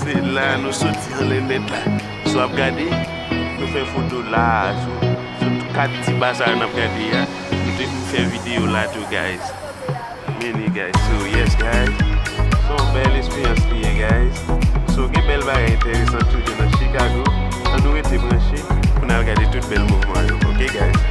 Se la nou soti an le met la. Si wap gade, nou fè foto la tou. Sou tout 4 ti ba sa yo nap gade a. Nou te vin fè video la tou guys. Many guys. So yes guys. Se yon bèl esperyans li ye guys. So gen bèl bagay enteresan toujou nan Chicago. An nou rete branche pou n al gade tout bèl mouvman yo. Ok guys.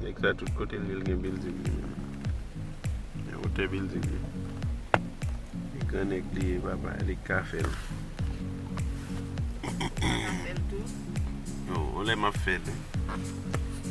Nèg sa tout kote li gen bilding li menm. Men wotè bilding li. E gran nèg li ye papa li k ka fèl. Mwen ka fèl tou. Non, yon lè map fèl.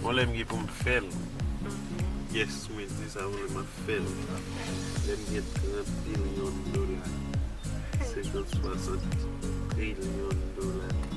Yon lè m gen pou m fèl. Yes mwen di sa yon lè map fèl. Lè m gen 30 billion dola. 50, 60 trillion dola.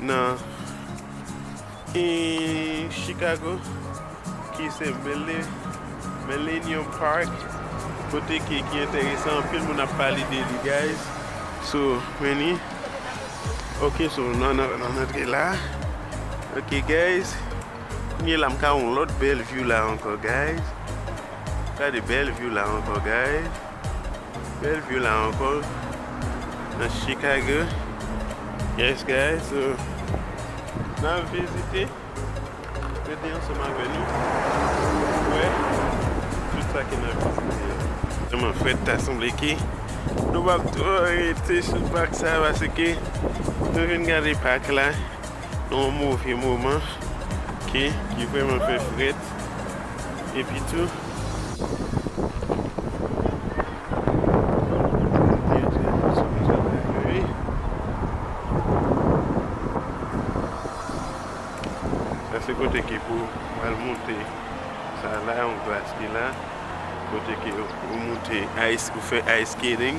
Nan I Chicago ki se Mele Millennium Park kote ke ki enteresan anpil moun ap pale de li guys so many ok so nou nan nan antre la ok guys kounye la m ka wè yon lòt bèl view la ankò guys gade bèl view la ankò guys. Bèl view la ankò nan Chicago yes guys so nan vizite mete ansanm avè nou pou wè tout sa ki nan vizite yo. Tèlman frèt ta sanble ke nou pap twò rete sou pak sa paske nou vin gade pak la. Yon move moman ke ki vreman fè frèt epi tou Bondye di nou pase yon ti apèl vre wi Sa se kote ke pou al moute sa la yon glas ki la kote ke ou moute ice ou fè ice skating.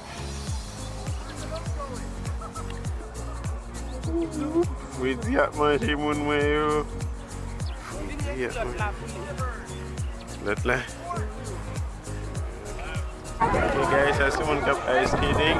Fredi ap manje moun mwen yo. Fredi ap manje moun mwen yo. Lòt la. Ok guys, sa se moun kap ice skating.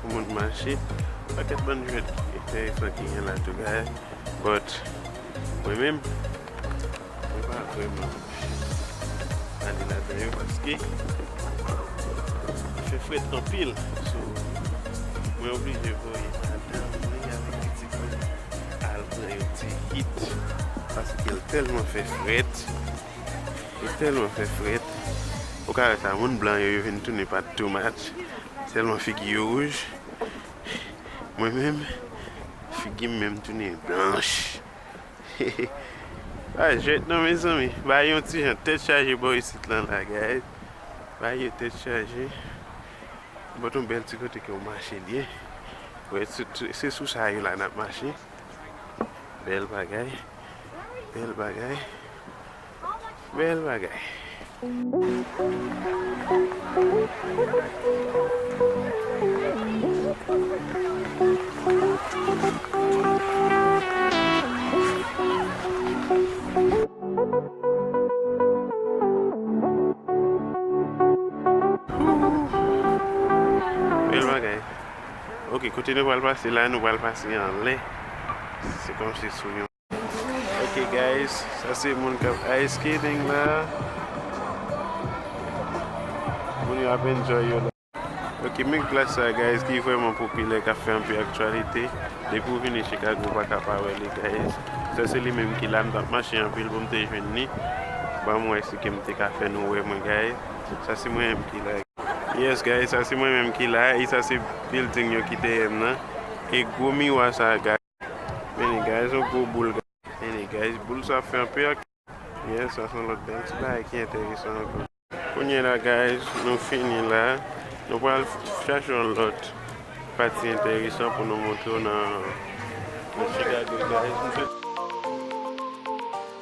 Pou moun mache Pakèt bann jwèt enteresan ki gen la tou gaye But Mwen menm Mwen pa vrèman Ale ladan yo paske Li fè frèt anpil So Mwen oblije voye madanm mwen avèk pitit mwen Al pran yon ti hit Paskel tèlman fè frèt Yo tèlman fè frèt. Ou ka wè sa moun blan yo yo vin tounen pa too much tèlman figi yo wouj. Mwen menm figi m menm tounen blanch. Se pa jwèt non mezanmi. Bagay yo yon ti jan tèt chaje bò isit lan la guys. Bagay yo tèt chaje. Bòt yon bèl ti kote ke ou mache byen. Wè se sou sa yo la n ap mache. Bèl bagay. Bèl bagay. Bel bagay. Bel bagay. Ok, kote nou pral pase la, nou pral pase anlè. Se kom se sou yon. Ok guys sa se moun kap ice skating la moun yo ap enjoy yo la. Ok men glace sa guys ki vreman popilè kap fè anpil aktyalite depi ou vini Chicago ou paka pa wè li guys sa se li menm ki la m tap mache anpil poum te jwenn li banm wè si kem te ka fè nou wè mwen guys sa se mwen menm ki la. Yes guys sa se mwen menm ki la e sa se building yo ki dèyèm nan e gwo miwa sa guys. Many guys yon gwo boul guys. Many guys boul sa fè anpe ak. Yes sa son lot bel ti bagay ki enteresan anko. Kounye la guys nou fini la nou pral chache yon lot pati enteresan pou nou moutrew nan Chicago guys.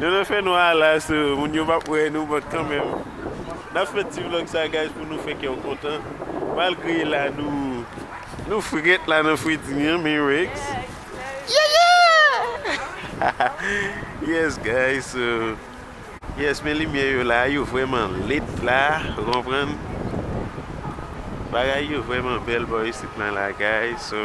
Nan nan fè nwa a la so moun yo pap wè nou but kanmenm nap fè ti vlog sa guys pou nou fè kèw kontan malgre la nou nou frèt la nan fritimi an men Rex yeah yeah yes guys so yes men limyè yo la yo vrèman lit la ou konprann bagay yo vrèman bèl bò isit nan la guys so.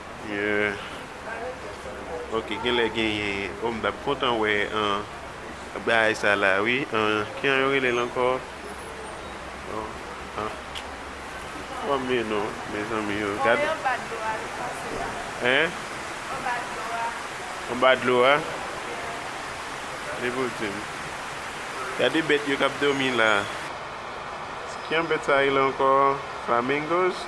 Yeah ok genlè genyen oh m tap kontan wè an bagay sa la wi an ki an yo relel ankò oh an oh me no mezanmi yo gad hein anba dlo a li pou dim gade bèt yo kap domi la ki an bèt sa rele ankò flamingos.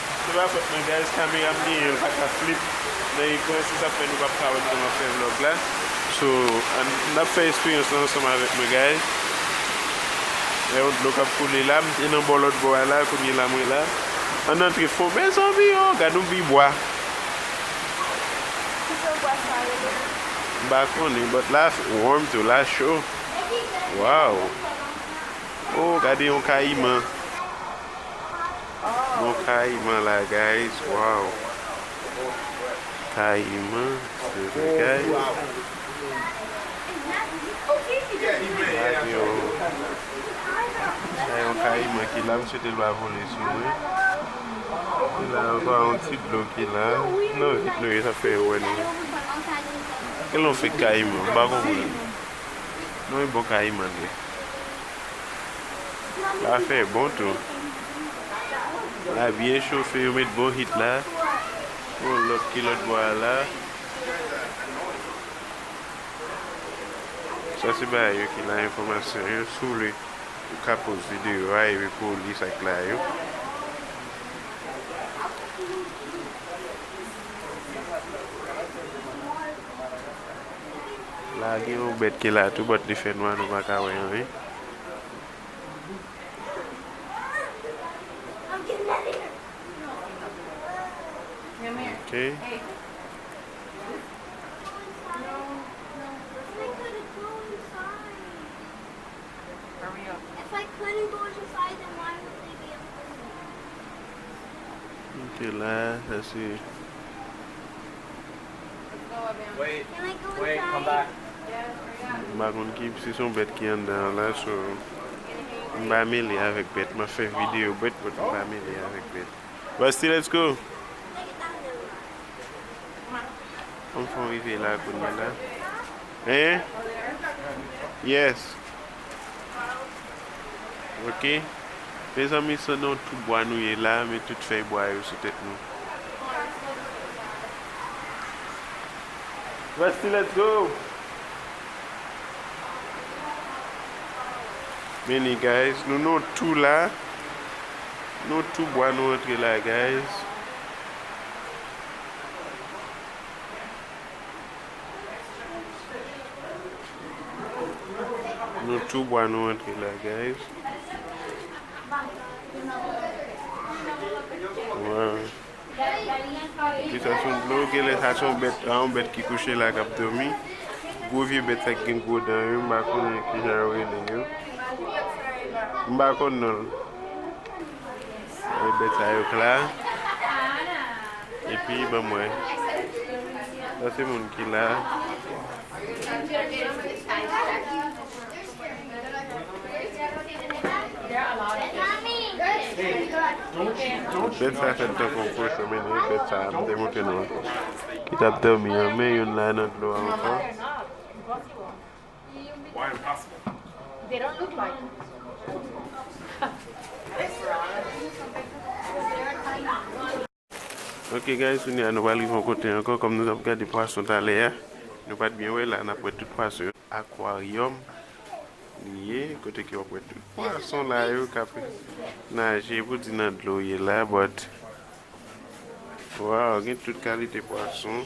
Se pa fòt mwen guys kamera m genyen l paka flip nan ekran se sa fè nou pap ka wè m kòman fè vlog la so ann nap fè esperyans lan ansanm avèk mwen guys gen yon dlo kap koule la m te nan bò lòt bò a la kounye la mwen la ann antre fon mezanmi oo gad yon bi bwa Ki jan bwa sa rele menm? M pa konnen but la warm tou la cho waww oo gade yon kayiman. Bon kayiman la guys waw. Kayiman se bagay. Sa yon kayiman ki la m swete l pa vole sou mwen. Ki la ankò a yon ti dlo ki la. Nan vit nou ye sa fè yo wè nou ye. Kèlè yon fek kayiman m pa konprann. Nan yon bon kayiman l ye. La fè bon tou. La byen chofe yo met bon hit la. Bon lòt ki lòt bò a la. Sa se ba yo ki la enfòmasyon yo sou le ou ka poz videyo a epi pou ou li sa k la yo. La gen yon bèt ki la tou but li fè nwa nou pa ka wè anyen. Ok. M pa konn ki si son bèt ki anndan an la so m pa mele avèk bèt map fè video bèt but m pa mele avèk bèt Rusty let's go Anfn rive la kounyela Hein Yes Ok mezanmi se nan tout bwa nou ye la men tout fèy bwa yo sou tèt nou. Rusty let's go. Men li guys nou nan tou la nan tou bwa nou antre la guys. Nou tou bwa nou antre la guys. Epi sa son dlo genlè sa son bèt an bèt ki kouche la kap domi. Gwo vye bèt sa gen gwo dan yo mba konnen ki jan yo rele yo. Mba konnen non. Gade bèt sa yo kla. Epi ban mwen. Sa se moun ki la. Bèt sa fèt tankou yon pwochon men nou e bèt sa m te montre nou an ki t ap dòmi an men youn la nan dlo a ankò. Ok guys kounye a nou pral rive yon kote ankò kòm nou tap gade pwason talè a nou pat byen wè la nap wè tout pwason yo aquarium li ye kote ke wap wè tout pwason la yo kap naje pou di nan dlo ye la but waw gen tout kalite pwason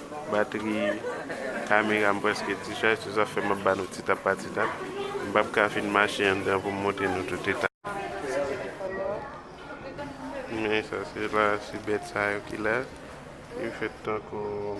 Batri kamera m prèske di chaj, se sa fè m ap ba nou ti tap pa ti tap. M pap ka fin mache anndan pou m montre nou tout eta. Men sa se la, se bèt sa yo ki la. Yo fèt tankou.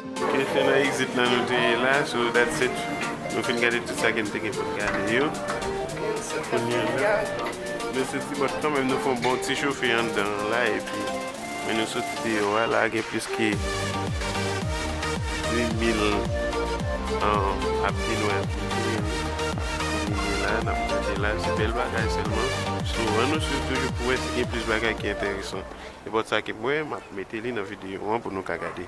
Ok se nan exit lan nou te ye la so that's it nou fin gade tout sa ke nou te gen pou nou gade yo kounya la nou soti but kanmenm nou fon bon ti chofe anndan an la epi men nou soti deyò a la gen plis ke 2000 an ap gen nou ap gen nou nou ye la nap gade la se bèl bagay sèlman so an nou swiv toujou pou wè si gen plis bagay ki enteresan ebòt sa ke mwen map mete li nan videyo an pou nou ka gade.